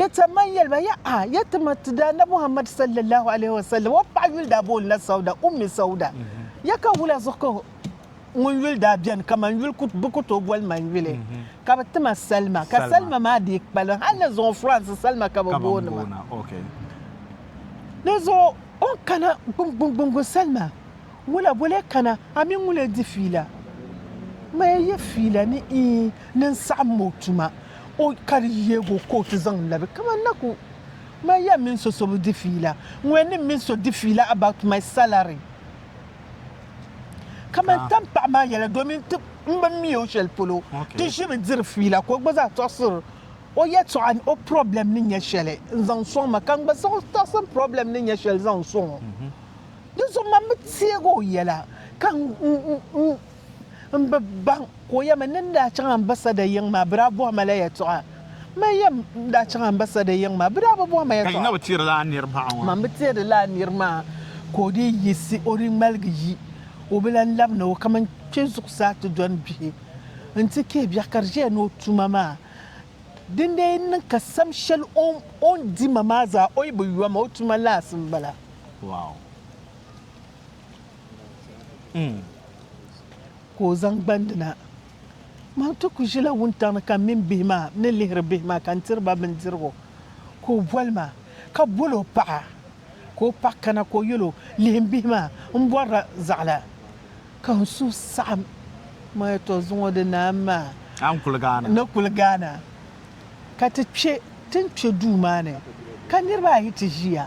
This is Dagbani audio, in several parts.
Ka chɛ ma n-yɛli ba, Yaha! Ya ti ma ti Daana Muhammad sallallahu alaihi wasallam o paɣa yuli daa booni la Sauda, Ummi Sauda. Ya ka wula zuɣu ka ŋun yuli daa beni kaman yuli kut bɛ ku tooi boli man yuli? Ka bɛ ti ma Salma, ka Salma maa dii kpalim hal ni zuŋɔ France Salma ka bɛ booni ma. Di zuɣu o ni kana gbungbuŋ Salma. Ŋula bo lee kana, a mi ŋun lee di fiila? Maya yi fiila ni iin ni n-saɣim ma o tuma, o ka di yeeg o ka o ti zaŋ labi kaman na ku ma yɛn min so so bi di fiila, ŋuya ni min so di fiila about my salary kaman tampaɣu maa yɛla domin ti m bi mi o shɛli polo ti ʒimi diri fiila ka o gba zaa tɔɣisiri o yɛtɔɣa ni o problem ni nyɛ shɛli n-zaŋ sɔŋ ma ka n gba siɣi tɔɣisim problem ni nyɛ shɛli zaŋ sɔŋ o. Di zuɣu man bi teeg o yɛla ka n bi baŋ ka o yɛmi, Ni n daa chaŋ ambasada yiŋ maa, bɛ daa bɔhi ma la yɛtɔɣa. Man yɛm, N daa chaŋ ambasada yiŋ maa, bɛ daa bi bɔhi ma yɛtɔɣa. Ka Yino bi teeri lala nir maa ŋɔ? Man bi teeri lala nir maa ka o dii yiɣisi o di ŋmaligi yi, o bi lan lab ni o kaman kpe zuɣusaa ti dɔni bihi nti kee biɛɣu ka di ʒiya ni o tuma maa. Din daa yɛn niŋ ka sam shɛli o ni di ma maa zaa, o yi bi yom, o tuma laɣisi m-bala. Wow. Mm. Ka o zaŋ gbandi na. Maa ti ku ʒila wuntaŋ ni ka m mini bihi maa ni lihiri bihi maa ka n tiri ba bindirigu. Ka o boli ma ka bol o paɣa ka o paɣa kana ka o yɛl o, Lihim bihi maa, m bɔrila zaɣila ka n suhu saɣim. Maa ya tɔ zuŋɔ di naam maa. A ni kuli gaana. Ni kuli gaana. Ka ti kpe ti ni kpe duu maa ni ka niriba ayi ti ʒiya.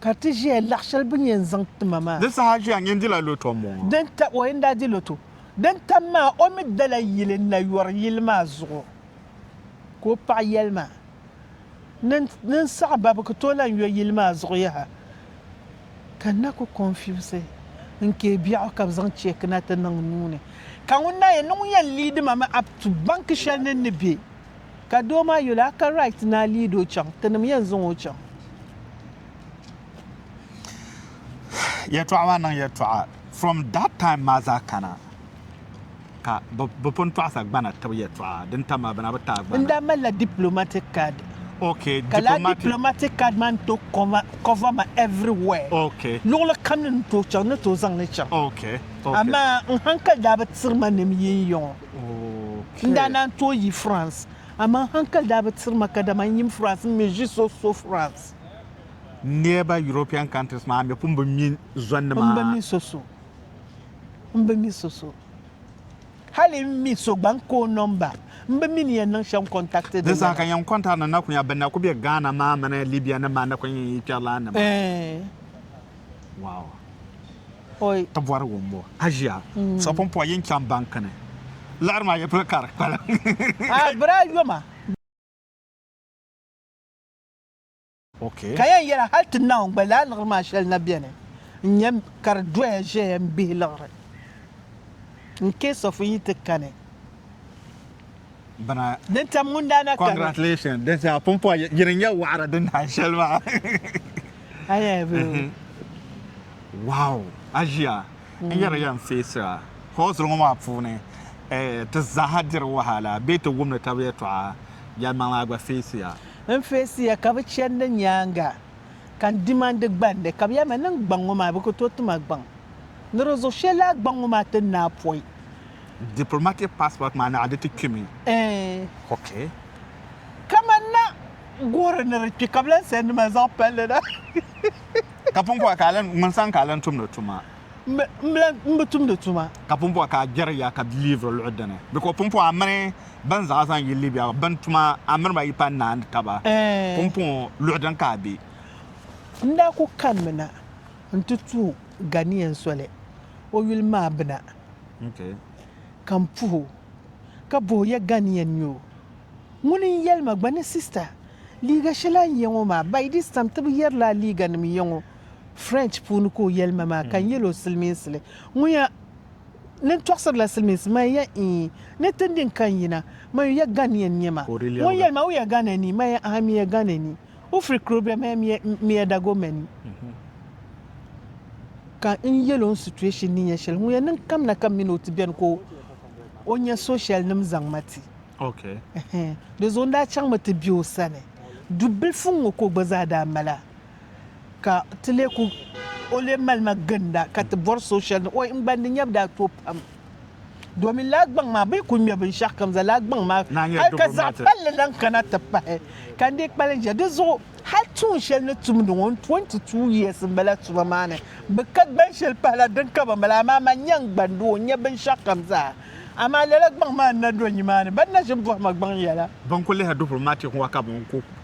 Ka ti ʒiya laɣ shɛli bɛ ni yɛn zaŋ ti ma maa. Di saha ʒiya n yɛn dila loto m-bɔŋɔ. Din tam, o yɛn daa di loto. Din tam maa, o mi dala yili n-na yɔri yili maa zuɣu. Ka o paɣa yɛli ma, Ni ni n saɣi ba, bɛ ku tooi lan yɔ yili maa zuɣu yaha. Ka n na ku kɔnfiusi n kee biɛɣu ka bɛ zaŋ cheeki na ti niŋ n nuu ni. Ka ŋun daa yɛn ni ŋun yɛn liidi ma mi a tu banki shɛli ni n ni be. Ka doo maa yuli a ka right ni a lead o chaŋ ti nim yɛn zaŋ o chaŋ. Yɛltɔɣa maa niŋ yɛltɔɣa from that time maa zaa kana ka bi pun tɔɣisa gbana tib yɛltɔɣa din tam maa bana bi taai gbana. N daa mali la diplomatic card. Okay, ka laa diplomatic card maa ni to cover ma everywhere. Okay. Luɣili kam ni ni tooi chaŋ ni tooi zaŋ li chaŋ. Okay. Okay. Amaa n hankali daa bi tiri ma nim yiŋ yiŋɔ. N daa naan tooi yi France, amaa hankali daa bi tiri ma kadama n yim France, m mi ʒi so so France. Niriba European countries maa mi pun bi mi zɔnni maa. M bi mi so so. M bi mi so so. Hali n mi so gba n ka o number. M bi mi ni yɛn niŋ shɛm contact di lana. Di zaa ka yɛn contact ni na ku nya bɛ ni na ku be Ghana maa mini Libya nim maa ni ku nyɛ yi kpɛrilana nima. Eeh. Ti bɔri wumbu aʒia sɔpumpɔa yin chaŋ banki ni liɣiri maa yi pili ka di kpalim. Ka yɛn yɛli hal ti Naawuni gba lala liɣiri maa shɛli na beni n-nyɛ ka di doya ʒeya m-bihi liɣiri in case of n yi ti kani. bana. Ni tam ŋun daa na kani. Congratulations din zaa pumpɔa yi ni nya waɣara din naai shɛli maa. Ayɛa bee. Wow aʒia n yɛri ya n feesira hɔɔsiri ŋɔ maa puuni ti zaaha diri wahala bee ti wumdi tab yɛtɔɣa yɛlimaŋli a gba feesiya. N feesiya ka bi chɛndi nyaaŋa ka n dimandi gbandi, ka bɛ yɛli ma, Niŋ gbaŋ ŋɔ maa, bɛ ku tooi ti ma gbaŋ ni di zuɣu shɛli laa gbaŋ ŋɔ maa ti naai pɔi. Diplomatic passport maa naɣa di ti kpi mi? Eeh. Ok. Kaman na goori ni di kpi ka bɛ lan sɛndi ma zaŋ palli na. Ka pumpɔɣu ka a lan, ŋun sani ka a lan tumdi tuma? m bi tumdi tuma. Ka pumpɔŋɔ ka a gbɛri ya ka liiviri luɣi dini? Bɛ ka o pumpɔŋɔ a mini bɛn zaɣa zaŋ yi Libia ŋɔ, bɛn tuma a mini ba yi pa naani taba pumpɔŋɔ luɣi dini ka a be? N daa ku kanimi na nti tuhi Ghanaian soli o yuli maa bina ka m puhi o ka bɔh o ya Ghanaian n-nyɛ o? Ŋuni n-yɛli ma gba ni sista liiga shɛli a yɛ ŋɔ maa by this time ti bi yɛrila a liiganim yɛ ŋɔ? French puuni ka o yɛli ma maa ka n yɛl o silimiinsili ŋun ya ni n tɔɣisirila silimiinsi man ya ii ni ti ndi n ka n yina man yu ya Ghanaian n-nyɛ ma ŋun yɛli ma u ya Ghana ni man ya ahaa mi ya Ghana ni u firi Krobia man ya mi ya Dagomɛ ni ka n yɛl o n situation ni nyɛ shɛli ŋun ya niŋ kam na ka m min o ti beni ka o nya socialnim zaŋ ma ti di zuɣu n daa chaŋ mi ti be o sani dubilifu ŋ-ŋɔ ka o gba zaa daa mala ka ti lee ku o lee mali ma ginda ka ti bɔri so shɛli ni oi n-gba ni nya bi daa tooi pam domin lala gbaŋ maa bɛ yi ku ŋme binshɛɣu kam zaa lala gbaŋ maa hali ka zaɣ palli lan kana ti pahi ka n dii kpalim ʒiya di zuɣu hali tuun shɛli ni tumdi ŋɔ n 22 years m bala tuma maa ni bi ka gban shɛli pahi la din ka ban bala amaa man nya n gban di o nya binshɛɣu kam zaa amaa lala gbaŋ maa n na do nyi maa ni ban na ʒi m bɔhi ma gbaŋ yɛla. Ban ku lihiri dupurim maa teeku ŋɔ ka ban ku.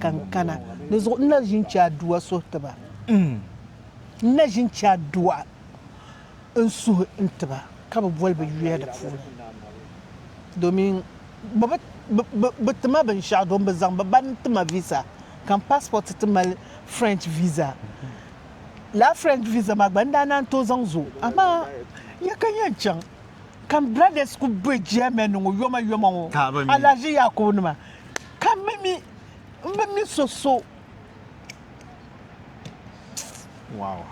Ka n kana di zuɣu n na ʒi n-chɛ Adua suhi ti ba. N na ʒi n-chɛ Adua n-suhi n-ti ba ka bɛ boli bɛ yuya di puuni domin bɛ bi ti ma binshɛɣu domin bɛ zaŋ bɛ ba ni ti ma visa ka m passport ti mali French visa. Lala French visa maa gba n daa naan tooi zaŋ zo amaa ya ka n yɛn chaŋ ka m brothers kuli be Germany ŋɔ yomayoma ŋɔ alahiʒi Yaakubu nima. ka mi mi n bi mi so so wow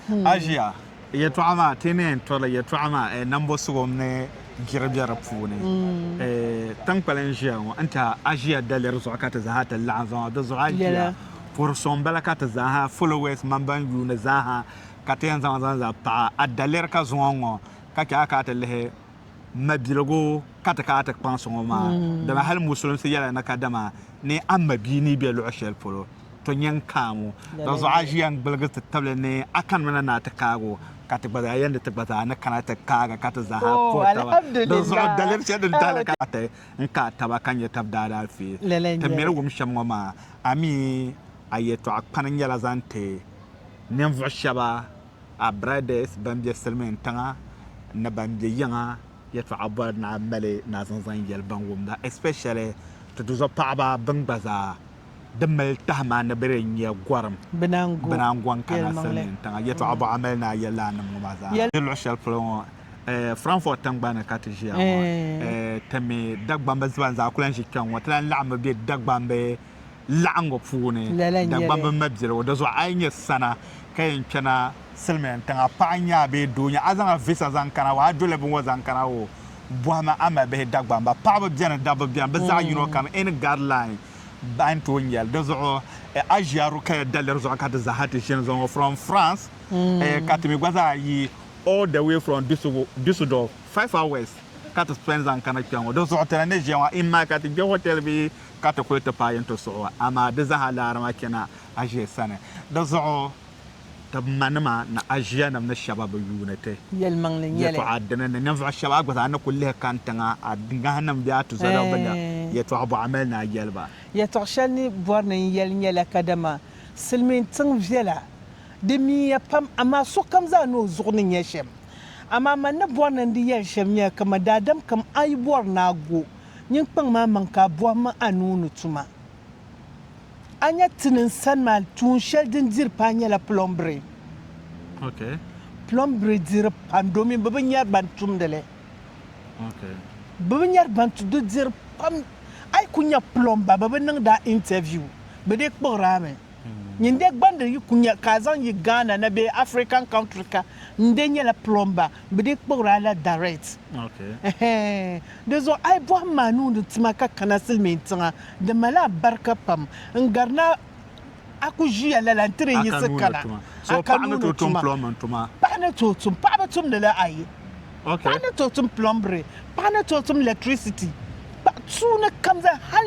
hmm. aʒiya yɛtɔɣa maa ti ni yɛn tɔri yɛtɔɣa maa eh, nambo sugu mini jiri bɛ di puuni hmm. eh, tinkpali n ʒiya ŋɔ n tiɛha aʒiya daliri zuɣu ka ti zaaha ti laɣam zaŋ di zuɣu aʒiya puri soŋ bala ka ti zaaha followers man ban yuuni zaaha ka ti yɛn zaŋ zaŋ zaŋ paɣa a daliri ka zuŋɔ ŋɔ ka chɛ a ka ti lihi mabiligu ka ti ka a ti kpaŋsi ŋɔ maa, mm. dama hali musulinsi yɛla na ka dama ni a mabia ni be luɣ shɛli polo, to nya n-kaamu. Da zuɣu a ʒiya n-gbiligi ti tabili ni a kanimi na ni a ti kaag o, ka ti gba zaa yɛn di ti gba zaa ni kana ti kaag a ka ti zaa ha puhi taba. Di zuɣu daliri shɛli din tahili ka ti n-kaai taba ka nya tab daalaafee. Ti miri wum shɛm ŋɔ maa, a mi a yɛtɔɣa kpani nyɛla zaŋ ti ninvuɣ shɛba. our brothers ban be silimiin tiŋa ni ban be yiŋa yɛtɔɣa bɔri ni a mali ni a zaŋ zaŋ yɛli ban wumda especially ti duzɔ paɣaba bɛn gba zaa di mali tahima ni bɛ di nya gɔrim Binangon kana silimiin tiŋa yɛtɔɣa bɔ a mali ni a yɛli lana nim ŋɔ maa zaa n ʒi luɣ'shɛli polo ŋɔ Frankfurt tiŋgbani ni ka ti ʒiya ŋɔ ti mi Dagbamba ziba n zaa ku lan ʒi kpɛŋ ŋɔ ti lan laɣimmi be Dagbambi laɣingu puuni Dagbamb mabiligu o dazuɣu a yi nyɛ sana ka yɛn kpɛna silimiin tiŋa paɣa nyɛ a bee doo nyɛ a zaŋ a visa zaŋ kana o a doli binŋɔ zaŋ kana o bɔhimi a mabihi Dagbamba paɣaba bɛni dabba bɛni bɛ zaɣi yino kam any guideline a ni tooi nyɛli di zuɣu a ʒiya Rukaya daliri zuɣu ka ti zaaha ti ʒini zuɣu ŋɔ from France ka ti mi gba zaa yi all the way from Dusseldorf five hours ka ti spend zaŋ kana kpɛŋɔ di zuɣu ti na ni ʒiya ŋɔ imma ka ti kpɛ hotel bee ka ti kuli ti paai yintɔ suɣu, amaa di zaa laara maa chana Aʒia sani. Di zuɣu ti ma nima ni Aʒia nim ni shɛba bi yuuni ti yɛtɔɣa dini ni ninvuɣu shɛba a gba zaa ni kuli lihi kani tiŋa a ŋahi nim bee a tuzɔliɣu bi nya yɛtɔɣa bɔɣimil ni a yɛli ba. Yɛtɔɣ shɛli ni bɔri ni n yɛli nyɛla kadama silimiin tiŋ viɛla. Di miiya pam, amaa sokam zaa ni o zuɣu ni nya shɛm. Amaa man ni bɔri ni n di yɛli shɛm nyɛla kaman daadam kam a yi bɔri ni a go Nyin kpaŋ maa maŋ ka a bɔhim a ni o ni tuma. A nya ti ni n sani maa, tuun shɛli din diri paa nyɛla plɔmbiri. Plɔmbiri diri pam domin bɛ bi nyari ban tumdi li. Bɛ bi nyari ban tumdi li. Di diri pam. A yi ku nya plɔmba bɛ bi niŋdi a interview, bɛ dii kpuɣiri a mi. Nyin de gbandi yi ku nya ka a zaŋ yi Ghana na bee African country ka, n de nyɛla plumber, bɛ dii kpuɣiri a la direct. Ɛhɛɛn. Dizuɣu a yi bɔhim ma a nuuni tuma ka kana silimiin tiŋa, di mali alibarika pam. N gari ni a ku ʒiya lala n-ti di yiɣisi kana a ka nuuni tuma. Paɣa ni tooi tum. Paɣa bi tumdi li ayi. Paɣa ni tooi tum plumbering. Paɣa ni tooi tum electricity. Paɣa tuuni kam zaa hal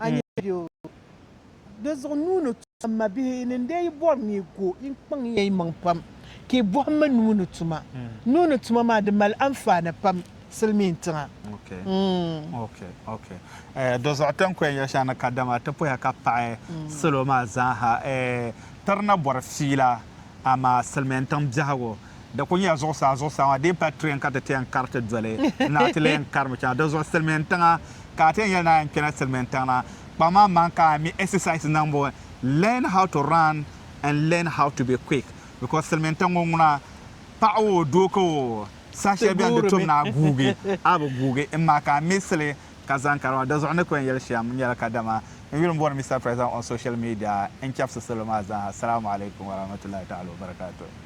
a ni yɛn be o dizuɣu nuu ni tuma. M mabihi, yi ni n lee yi bɔri ni yi go, yi kpaŋ ya yimaŋ pam ka yi bɔhim mi nuu ni tuma. Nuu ni tuma maa, di mali anfaani pam silimiin tiŋa. Dɔzuɣu ti ni kɔya yɛli shɛŋa ni kadama ti puhiya ka paɣi salo maa zaa ha, ti di na bɔri fiila amaa silimiin tiŋ biɛhigu. Di kul nyɛla zuɣusaa zuɣusaa maa din pali tuya ka ti ti yɛn kari ti doli na ti lee karimi chaŋa di zuɣu silimiin tiŋa ka a ti yɛn yɛli ni a yɛn kpɛla silimiin tiŋa na kpaŋ maa maŋ ka a mi exercise niŋbu learn how to run and learn how to be quick because silimiin tiŋ ŋɔ ŋuna paɣa oo doo ka o saha shɛli beni di tom ni a guugi a bi guugi m maa ka a miisili ka zaŋ kari maa di zuɣu n ni ku yɛn yɛli shɛm nyɛla kadama n yuli m-booni Mister President on social media n-chɛbisi salo maa zaa ha Salaamu Alaikum Warahmatullahi Ta'ala Wabarakatuh.